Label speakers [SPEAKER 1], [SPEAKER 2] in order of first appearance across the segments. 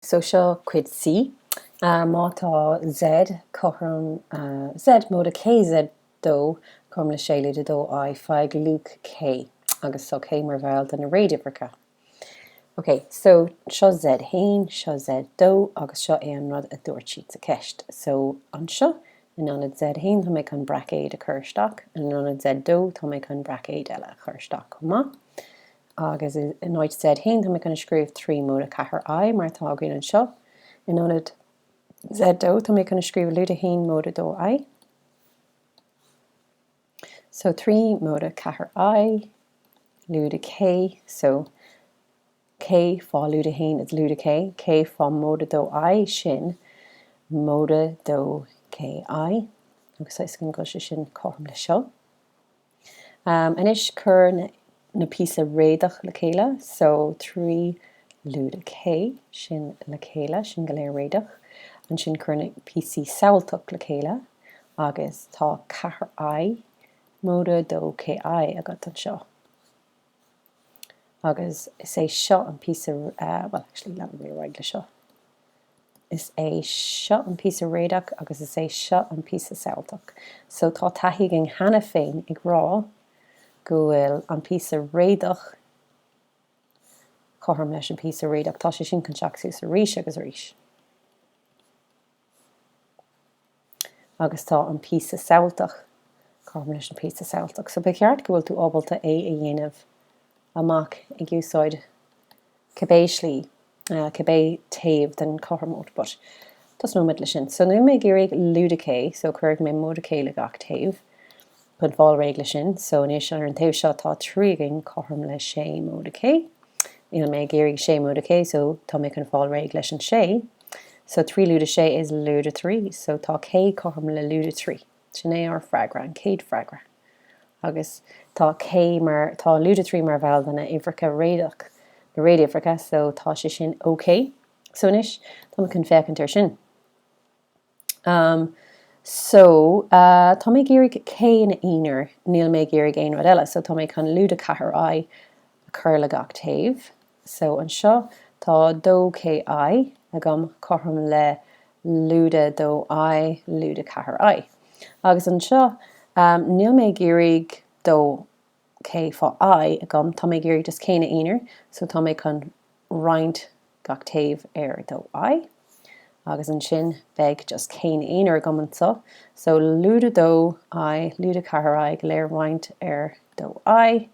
[SPEAKER 1] So seo cuid C. Má tá Z cothrom Z móide K Z 2 cothrom le 6 lúide 2 I, faigh luach K agus so K mar bhall de na réaduimhreacha. Ok, so seo Z haon, seo Z 2 agus seo é an rud a dúirt siad sa cheist. So anseo, in ionad Z haon tá mé chun braicéad a chur isteach in ionad Z 2 tá mé chun braicéad eile a chur isteach chomh maith. agus in áit Z haon tá mé chun a scríobh trí móide 4 I, mar atá againn anseo. In ionad Z dó, tá mé chun a scríobh lúide 1 móide 2 I. So trí móide 4 I, lúide K, so K fá lúide 1 is lúide K, K fá móide 2 I sin móide 2 K I, agus a fhios againn go bhfuil sé sin cothrom le seo. Anois cuir na píosa réadach le chéile so trí lúide K, sin le chéile, sin go léir réadach. Ansin cuir na píosaí samhailteach le chéile agus tá ceathair I, móide dó K I agat anseo. Agus is é seo an píosa, bhuel, actually, leanfaidh mé ar aghaidh leis seo. Is é seo an píosa réadach agus is é seo an píosa samhailteach. So tá taithí againn cheana féin ag rá go bhfuil an píosa réadach cothrom leis an píosa réadach. Tá sé sin chun teacht suas arís agus arís. Agus tá an píosa samhailteach, cothrom leis an píosa samhailteach, so ba cheart go bhfuil tú ábalta é a dhéanamh amach ag úsáid cibé slí, cibé taobh den chothromóid, but tosnóimid le sin. So, níl mé ag iarraidh lúide K, so cuirfidh mé móide K le gach taobh. chun fáil réidh leis sin. So anois, ar an taobh seo, tá trí againn cothrom le sé móide K. Níl mé ag iarraidh sé móide K, so tá mé chun fáil réidh leis an sé. So trí lúide sé is lúide trí, so tá K cothrom le lúide trí. Sin é ár bhfreagra, an chéad freagra. Agus tá K mar, tá lúide trí mar bhall de na uimhreacha réadach, na réaduimhreacha, so tá sé sin OK. So anois, tá mé chun féachaint ar sin. Um. So, uh, tá mé ag iarraidh K ina aonar, níl mé ag iarraidh aon rud eile. So, tá mé chun lúide ceathair I a chur le gach taobh. So, anseo, tá dó K I agam cothrom le lúide dó I, lúide ceathair I. Agus anseo, um, níl mé ag iarraidh dó dó k fá i agam, tá mé ag iarraidh just k ina aonar, so tá mé chun roinnt gach taobh ar dó i, agus ansin beidh just k ina aonar agam anseo, so lúide dó i, lúide ceathair i, go léir roinnt ar dó i,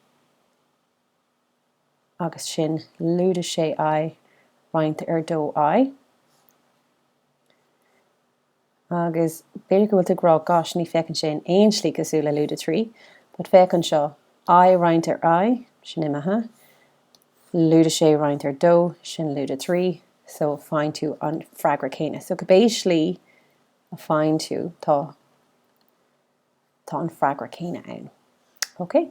[SPEAKER 1] agus sin lúide sé i, roinnt ar dó i. agus b'fhéidir go bhfuil tú ag rá, gosh, ní féachann sé in aon slí cosúil le lúide trí, but féach anseo, i roinnt ar i, sin imithe, lúide sé roinnt ar dó, sin lúide trí, so faigheann tú an freagra céanna. So cibé slí a faigheann tú, tá, tá an freagra céanna ann. Okay?